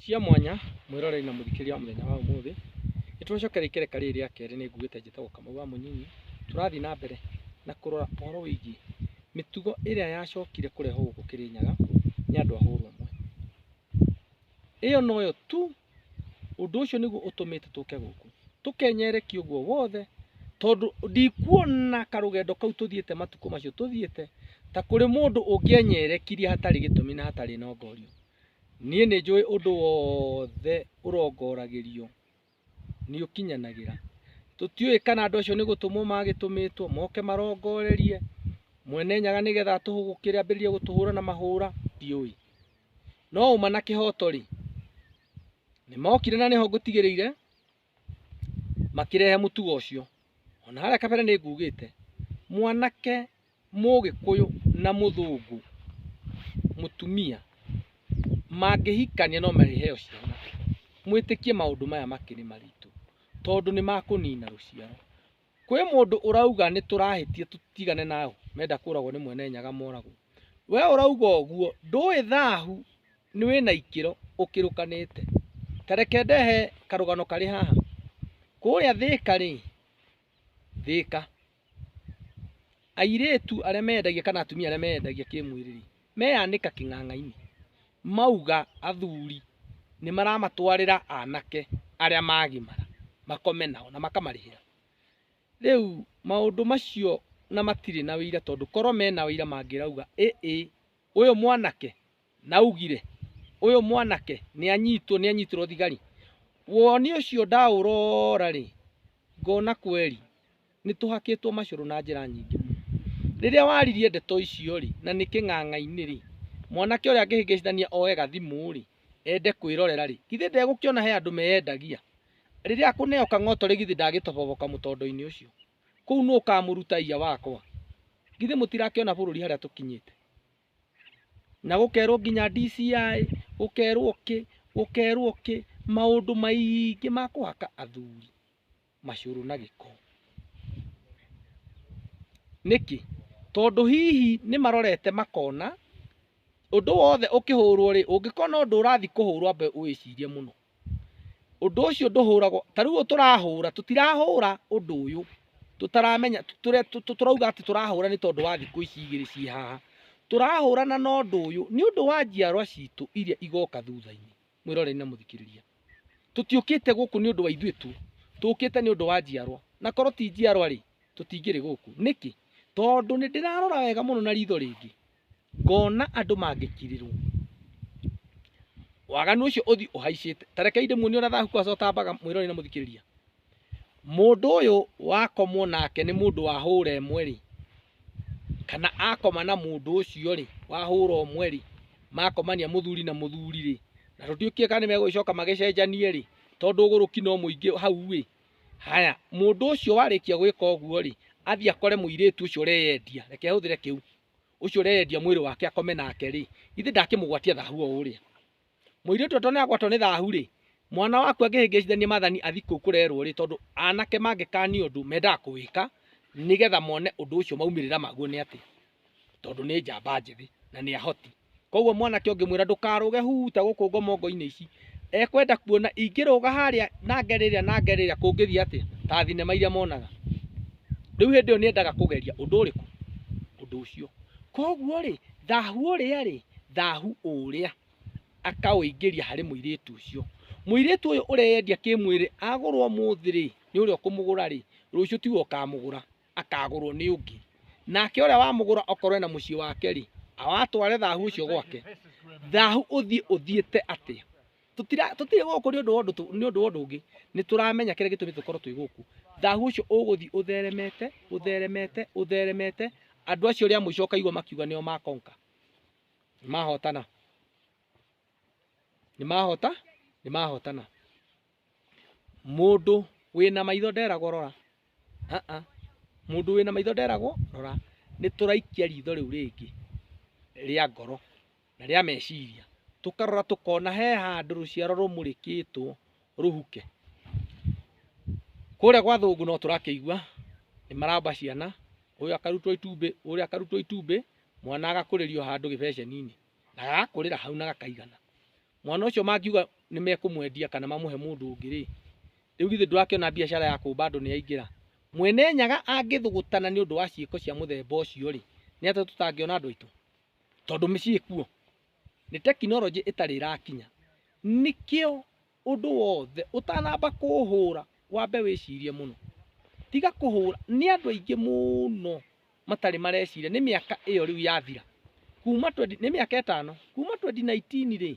Cia mwanya mwĩroreri na mũthikĩria wa mũthenya wa ũmũthĩ, nĩtũracokera ikereka rĩrĩ rĩa kerĩ nĩ ngugĩte njĩtagwo Kamau wa Mũnyinyi. Tũrathiĩ na mbere na kũrora ũhoro wĩgiĩ mĩtugo ĩrĩa yacokire kũrehwo gũkũ Kĩrĩnyaga nĩ andũ a hũrũmwe. Ĩyo noyo tu, ũndũ ũcio nĩguo ũtũmĩte tũke gũkũ. Tũkenyerekia ũguo wothe tondũ ndikuona karũgendo kau tũthiĩte matukũ macio tũthiĩte ta kũrĩ mũndũ ũngĩenyerekirie hatarĩ gĩtũmi na hatarĩ na ongorio. Niĩ nĩ njũĩ ũndũ wothe ũrongoragĩrio nĩ ũkinyanagĩra. Tũtiũĩ kana andũ acio nĩ gũtũmwo magĩtũmĩtwo moke marongorerie Mwene Nyaga nĩgetha atũhũgũkĩre ambĩrĩrie gũtũhũra na mahũra, ndiũĩ. No ũma na kĩhoto-rĩ, nĩ mokire na nĩho ngũtigĩrĩire. makĩrehe mũtugo ũcio ona harĩa kabere nĩ ngugĩte mwanake mũgĩkũyũ na mũthũngũ mũtumia mangĩhikania no marĩheo ciana mwĩtĩkie maũndũ maya makĩrĩ maritũ tondũ nĩ makũnina rũciaro Kwĩ mũndũ ũrauga nĩtũrahĩtia tũtigane nao menda kũragwo nĩ mwene nyaga moragwo. We ũrauga ũguo ndũĩ thahu nĩ wĩna ikĩro ũkĩrũkanĩte. Ta reke ndehe karũgano karĩ haha. Kũrĩa Thĩka rĩ, Thĩka, airĩtu arĩa meyendagia kana atumia arĩa meyendagia kĩmwĩrĩ rĩ, meyanĩka kĩng'ang'ainĩ mauga athuri nĩ maramatwarĩra anake arĩa magimara makome nao na makamarĩhĩra. Rĩu maũndũ macio na matirĩ na wĩira tondũ korwo mena wĩira mangĩrauga ĩ ĩ ũyũ mwanake naugire ũyũ mwanake nĩ anyitwo nĩ anyitirwo thigari. Woni ũcio ndaũrora rĩ ngona kweri. Nĩ tũhakĩtwo macũrũ na njĩra nyingĩ mũno. Rĩrĩa waririe ndeto icio-rĩ, na nĩ kĩng'ang'a-inĩ-rĩ, mwanake ũrĩa angĩhĩngĩcithania oe gathimũ-rĩ, ende kwĩrorera-rĩ, githĩ ndegũkĩona he andũ meyendagia? Rĩrĩa akũneo kang'oto-rĩ, githĩ ndagĩtoboboka mũtondo-inĩ ũcio? Kũu nũ ũkaamũruta iya wakwa? Githĩ mũtirakĩona bũrũri harĩa tũkinyĩte? Na gũkerwo nginya DCI, gũkerwo kĩ, gũkerwo kĩ, maũndũ maingĩ ma kũhaka athuri. macuru na gĩko. Nĩkĩ? Tondũ hihi nĩ marorete makona ũndũ wothe ũkĩhũrwo rĩ, ũngĩkona ũndũ ũrathiĩ kũhũrwo ambe ũwĩcirie mũno. Ũndũ ũcio ndũhũragwo, ta rĩu ũyũ tũrahũra, tũtirahũra ũndũ ũyũ tũtaramenya, tũrauga atĩ tũrahũra nĩ tondũ wa thikũ ici igĩrĩ ciĩ haha. Tũrahũrana na ũndũ ũyũ nĩ ũndũ wa njiarwa citũ iria igoka thutha-inĩ. mwĩroreri na mũthikĩrĩria tũtiũkĩte gũkũ nĩ ũndũ wa ithuĩ tu tũkĩte nĩ ũndũ wa njiarwa na korwo ti njiarwa rĩ tũtingĩrĩ gũkũ nĩkĩ tondũ nĩ ndĩrarora wega mũno na ritho rĩngĩ ngona andũ mangĩkirirwo waganu ũcio ũthi ũhaicĩte tarekei ndĩmuonie ũrĩa thahu kwaca ũtambaga mwĩroreri na mũthikĩrĩria Mũndũ ũyũ wakomwo nake nĩ mũndũ wahũra ĩmwe rĩ, kana akoma na mũndũ ũcio rĩ, wahũra ũmwe rĩ, makomania mũthuri na mũthuri rĩ, na tũtiũĩ kana nĩmegũgĩcoka magĩcenjanie rĩ, tondũ ũgũrũki no mũingĩ hau ĩ, haya mũndũ ũcio warĩkia gwĩka ũguo rĩ, athiĩ akore mũirĩtu ũcio ũreyendia, reke hũthĩre kĩu, ũcio ũreyendia mwĩrĩ wake akome nake rĩ, githĩ ndakĩmũgwatia thahu o ũrĩa? Mũirĩtu atone agwatwo nĩ thahu-rĩ, mwana waku angĩhĩngĩcithania maathani athiĩ kũu kũrerwo-rĩ, tondũ anake mangĩkania ũndũ mendaga kũwĩka nĩgetha mone ũndũ ũcio maumĩrĩra maguo nĩ atĩa, tondũ nĩ njamba njĩthĩ na nĩ ahoti. Koguo mwanake ũngĩmwĩra ndũkarũge huta gũkũ ngomongo-inĩ ici, ekwenda kuona ingĩrũga harĩa na ngere ĩrĩa na ngere ĩrĩa kũngĩthiĩ atĩa, ta thinema iria monaga. Rĩu hĩndĩ ĩyo nĩ endaga kũgeria ũndũ ũrĩkũ? Ũndũ ũcio. Koguo-rĩ, Thahu ũrĩa-rĩ, thahu ũũrĩa akaũingĩria harĩ mũirĩtu ũcio. Mũirĩtu ũyũ ũreyendia kĩmwĩrĩ agũrwo ũmũthĩ-rĩ, nĩ ũrĩa ũkũmũgũra-rĩ, rũciũ tiwe ũkamũgũra, akagũrwo nĩ ũngĩ. Nake ũrĩa wamũgũra okorwo ena mũciĩ wake-rĩ, atware thahu ũcio gwake. Thahu ũthiĩ ũthiĩte atĩa? tutira tutire guku ni undu wa undu tu- ni undu wa undu ungi ni turamenya kire gitumi tukorwo twi guku thahu ucio uguthi utheremete utheremete utheremete andu acio ria muico ukaigua makiuga nio makonka ni mahotana ni mahota ni mahotana mundu wina maitho nderagwo rora Ah, ah. mundu wina maitho nderagwo rora ni turaikia ritho riu ringi ria ngoro na rĩa meciria. Tũkarora tũkona he handũ rũciaro rũmũrĩkĩtwo rũhuke. Kũrĩa gwa thũngũ no tũrakĩigua nĩ maramba ciana, ũyũ akarutwo itumbĩ, ũrĩa akarutwo itumbĩ, mwana agakũrĩrio handũ gĩbeceni-inĩ na agakũrĩra hau na gakaigana. Mwana ũcio mangiuga nĩ mekũmwendia kana mamũhe mũndũ ũngĩ rĩ, rĩu githĩ ndũrakĩona biacara ya kũmba andũ nĩ yaingĩra? Mwene Nyaga angĩthũgũtana nĩ ũndũ wa ciĩko cia mũthemba ũcio rĩ, nĩ atĩa tũtangĩona andũ aitũ? tondũ mĩciĩ kuo nĩ tekinoronjĩ ĩtarĩ ĩrakinya. Nĩkĩo ũndũ wothe ũtanamba kũũhũra wambe wĩcirie mũno. Tiga kũhũra, nĩ andũ aingĩ mũno matarĩ mareciria nĩ mĩaka ĩyo rĩu yathira, kuuma twendi, nĩ mĩaka ĩtano, kuuma twendi na aitini rĩ,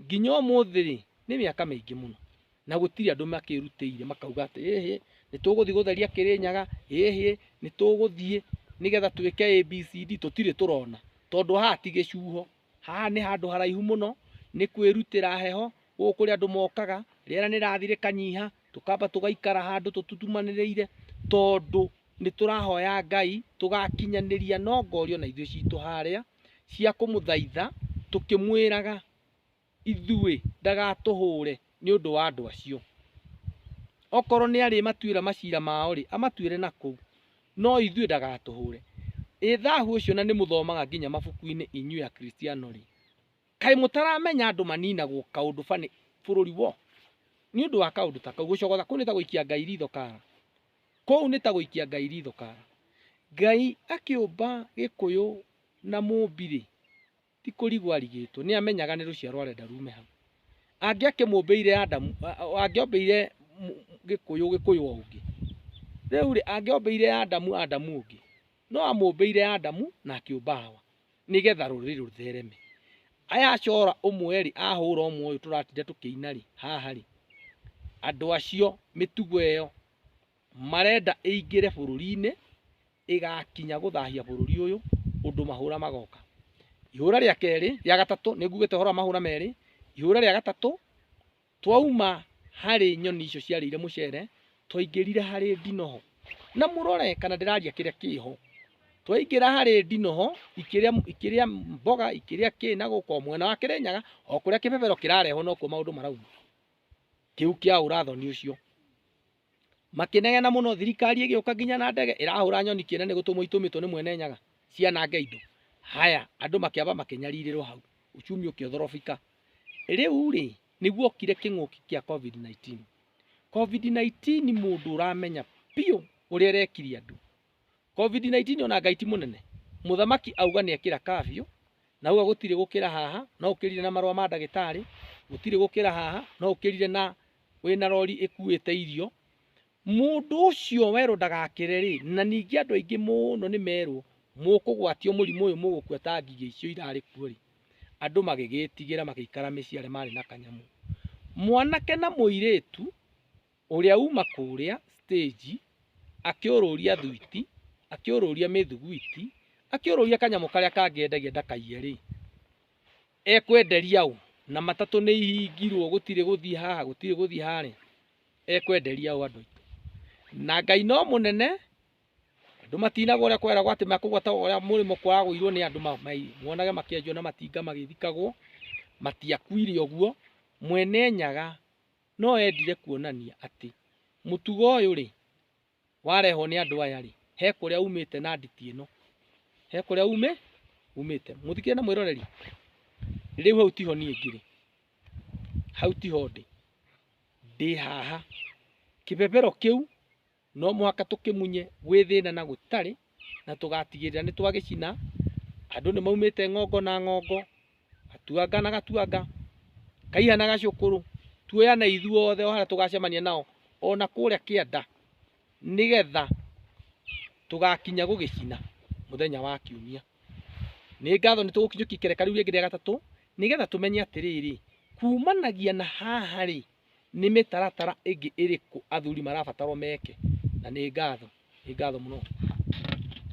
Nginya ũmũthĩ-rĩ, nĩ mĩaka mĩingĩ mũno, na gũtirĩ andũ makĩĩrutĩire makauga atĩ, ĩhĩ, nĩ tũgũthiĩ gũtheria Kĩrĩnyaga, ĩhĩ, nĩ tũgũthiĩ nĩgetha twĩke ABCD. Tũtirĩ tũrona, tondũ haha ti gĩcuho, haha nĩ handũ haraihu mũno, nĩ kwĩrutĩra heho, gũkũ kũrĩ andũ mokaga, rĩera nĩ rĩrathiĩ rĩkanyiha, tũkamba tũgaikara handũ tũtutumanĩrĩire, tondũ nĩ tũrahoya Ngai, tũgakinyanĩria no ngori o na ithuĩ citũ harĩa. cia kũmũthaitha, tũkĩmwĩraga, Ithuĩ, ndagatũhũũre nĩ ũndũ wa andũ acio. Okorwo nĩarĩmatuĩra maciira mao-rĩ, amatuĩre na kũu, no ithuĩ ndagatũhũũre. Ĩ thaahu ũcio na nĩmũthomaga nginya mabuku-inĩ inyuĩ Akristiano-rĩ, kaĩ mũtaramenya andũ maniinagwo kaũndũ fanĩ bũrũri woo? Nĩ ũndũ wa kaũndũ ta kau, gũcogotha kũu nĩ ta gũikia Ngai riitho kaara. Kũu nĩ ta gũikia Ngai ritho kara. Ngai akĩũmba Gĩkũyũ na Mũmbi-rĩ, ti kũrigwo arigĩtwo, nĩ amenyaga nĩ rũciaro arenda rume hau. Angĩakĩmũmbĩire Adamu, angĩombĩire Gĩkũyũ, Gĩkũyũ o ũngĩ, rĩu-rĩ, angĩombĩire Adamu, Adamu ũngĩ, no amũmbĩire Adamu na akĩũmba Hawa. nĩgetha rũrĩrĩ rũthereme aya acora ũmwe rĩ ahũra ũmwe ũyũ tũratinda tũkĩina rĩ haha rĩ andũ acio mĩtugo ĩyo marenda ĩingĩre bũrũri-inĩ ĩgakinya gũthahia bũrũri ũyũ ũndũ mahũra magoka ihũra rĩa kerĩ rĩa gatatũ nĩngugĩte ũhoro wa mahũra merĩ ihũra rĩa gatatũ Twauma harĩ nyoni icio ciarĩire mũcere, twaingĩrire harĩ ndinoho. Na mũrore kana ndĩraria kĩrĩa kĩho. Twaingĩra harĩ ndinoho, ikĩrĩa ikĩrĩa mboga, ikĩrĩa kĩ na gũka o mwena wa Kĩrĩnyaga, o kũrĩa kĩbebero kĩrarehwo nokuo maũndũ marauma. Kĩu kĩaũra thoni ũcio. Makĩnegena mũno, thirikari ĩgĩũka nginya na ndege ĩrahũra nyoni kĩene nĩ gũtũmwo itũmĩtwo nĩ mwene nyaga cianange indo. Haya, andũ makĩamba makĩnyarirĩrwo hau, uchumi ũkĩothorobika. Rĩu rĩ, nĩ guokire kĩng'ũki kĩa Covid-19. Covid-19 mũndũ ũramenya biũ ũrĩa ĩrekirie andũ COVID-19 ona Ngai ti mũnene. Mũthamaki auga nĩ ekĩra kafyu, na auga gũtirĩ gũkĩra haha, no ũkĩrire na marũa ma ndagĩtarĩ, gũtirĩ gũkĩra haha, no ũkĩrire na wĩna rori ĩkuĩte irio. Mũndũ ũcio werwo ndagakĩre rĩ, na ningĩ andũ aingĩ mũno nĩ merwo mũkũgwatio mũrimũ ũyũ mũgũkua ta ngigĩ icio irarĩ kuo rĩ, andũ magĩgĩtigĩra magĩikara mĩciĩ arĩa marĩ na kanyamũ. Mwanake na mũirĩtu Ũrĩa uma kũrĩa stage akĩũrũria thuiti, akĩũrũria mĩthugwiti, akĩũrũria kanyamũ karĩa kangĩ endagia ndakaiye rĩ, ekwenderia ũ? Na matatũ nĩ ihingirwo gũtirĩ gũthiĩ haha gũtirĩ gũthiĩ harĩa, ekwenderia ũ andũ aitũ? Na Ngai no mũnene, andũ matinagwo ũrĩa kweragwo atĩ mekũgwa ta ũrĩa mũrĩmo kwaragũirwo nĩ andũ monage makĩenjwo na matinga magĩthikagwo, matiakuire ũguo, Mwene Nyaga No endire kuonania atĩ mũtugo ũyũ rĩ, warehwo nĩ andũ aya rĩ, he kũrĩa umĩte na nditi ĩno, he kũrĩa umĩ umĩte. Mũthikĩrĩria na mwĩroreri, rĩu hau tiho niĩ ngĩrĩ, hau tiho ndĩ, ndĩ haha. Kĩbebero kĩu No mũhaka tũkĩmunye gwĩ thĩna na gũtarĩ, na tũgatigĩrĩra nĩ twagĩcina. Andũ nĩ maumĩte ng'ongo na ng'ongo, gatuanga na gatuanga, kaiha na gacũkũrũ, tuoyane ithuothe o harĩa tũgacemania nao, o na kũrĩa kĩanda, nĩgetha tũgakinya gũgĩcina mũthenya wa kiumia. Nĩ ngatho nĩ tũgũkinyũkia ikereka rĩu rĩngĩ rĩa gatatũ, nĩgetha tũmenye atĩrĩrĩ, kumanagia na haha rĩ, Nĩ mĩtaratara ĩngĩ ĩrĩkũ athuri marabatarwo meke? Na nĩ ngatho. Nĩ ngatho mũno.